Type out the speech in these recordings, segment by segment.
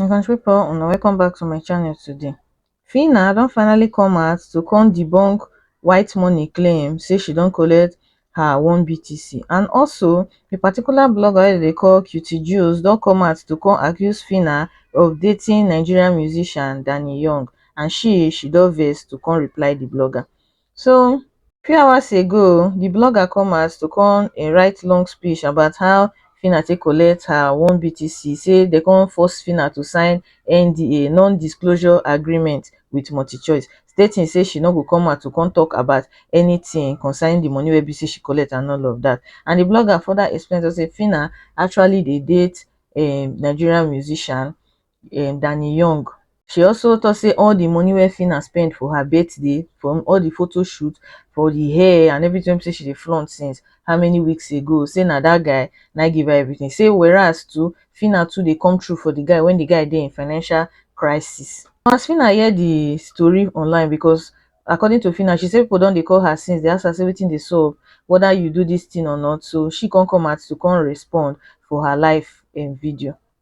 my country people una welcome back to my channel today Fina don finally come out to come debunk white money claim say she don collect her one BTC and also a particular blogger wey dey call Cutie Jules don come out to come accuse Fina of dating Nigerian musician Danny Young and she she don vex to come reply the blogger so few hours ago di blogger come out to come um write long speech about how phyna take collect her one BTC, say dem come force phyna to sign NDA, non disclosure agreement, with multichoice stating say she no go come out to come talk about anything concerning di money wey be say she collect and all of dat and di blogger further explain to say phyna actually dey date um Nigerian musician um danny young she also tok say all di money wey phyna spend for her birthday from all di photo shoot for di hair and everything wey be say she dey flaunt since how many weeks ago say na dat guy na im give her everything say whereas too phyna too dey come through for di guy when di guy dey in financial crisis as phyna hear di tori online because according to phyna she say pipo don dey call her since dey ask her say wetin dey sup weda you do dis thing or not so she come come out to come respond for her live um video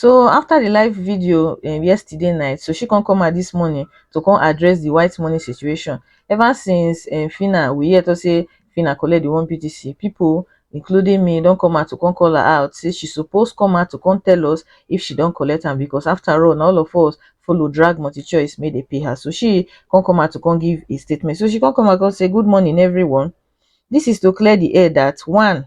So after the live video um yesterday night, so she come come out this morning to come address the white money situation. Ever since um Fina, we hear to say Fina collect the one BTC. People, including me, don't come out to come call her out. Say she supposed come out to come tell us if she don't collect them because after all, na all of us follow drag multi choice made they pay her. So she come come out to come give a statement. So she come come out come say good morning everyone. This is to clear the air that one,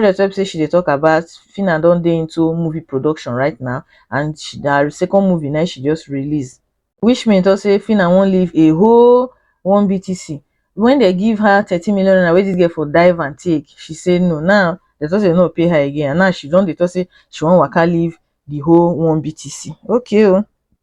wey be sey she dey talk about phyna don dey into movie production right now and na her second movie na she just release which mean talk sey phyna wan leave a whole one BTC when dem give her thirty million naira wey this girl for dive and take she say no now dem talk sey dem no go pay her again and now she don dey talk sey she wan waka leave the whole one BTC okay o.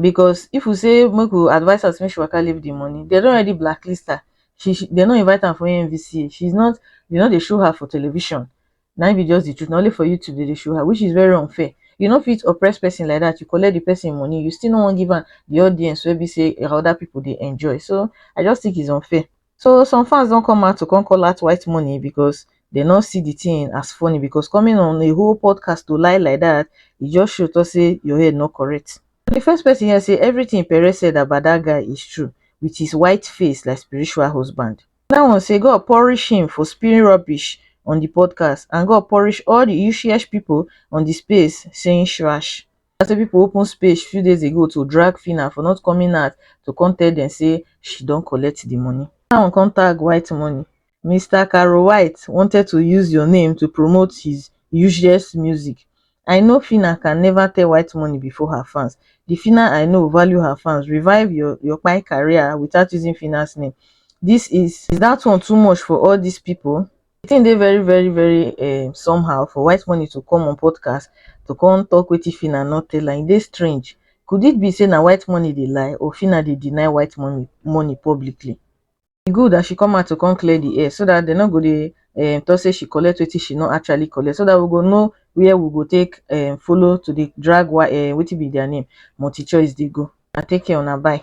because if we say make we advise her say make she waka leave the money, they don already blacklist her. She, she they no invite am for NVCA. She's not they no dey show her for television. Now be just the truth. Not only for YouTube they dey show her, which is very unfair. You know fit oppress person like that. You collect the person money, you still no one give her the audience where be say other people they enjoy. So I just think it's unfair. So some fans don come out to come call out white money because they no see the thing as funny because coming on a whole podcast to lie like that, e just show to say your head no correct. The first person here say everything Perez said about that guy is true with his white face like spiritual husband. That one say God punish him for spewing rubbish on the podcast and God punish all the useless people on the space saying trash. I say pipo open space few days ago to drag Phyna for not coming out to come tell dem say she don collect di money. Another one come tag White Money, Mister Caro White wanted to use your name to promote his useless music, I know Phyna can never tell White Money before her fans, di Phyna I know value her fans, revive your your kpai career without using Phyna's name, this is is that one too much for all these people? the thing dey very very very um somehow for whitemoney to come on podcast to come talk wetin phyna no tell am e dey strange could it be say na whitemoney dey lie or phyna dey deny whitemoney money publicly e good as she come out to come clear the air so that dem no go dey um talk say she collect wetin she no actually collect so that we go know where we go take um follow to dey drag um wetin be their name multichoice dey go una take care una bye.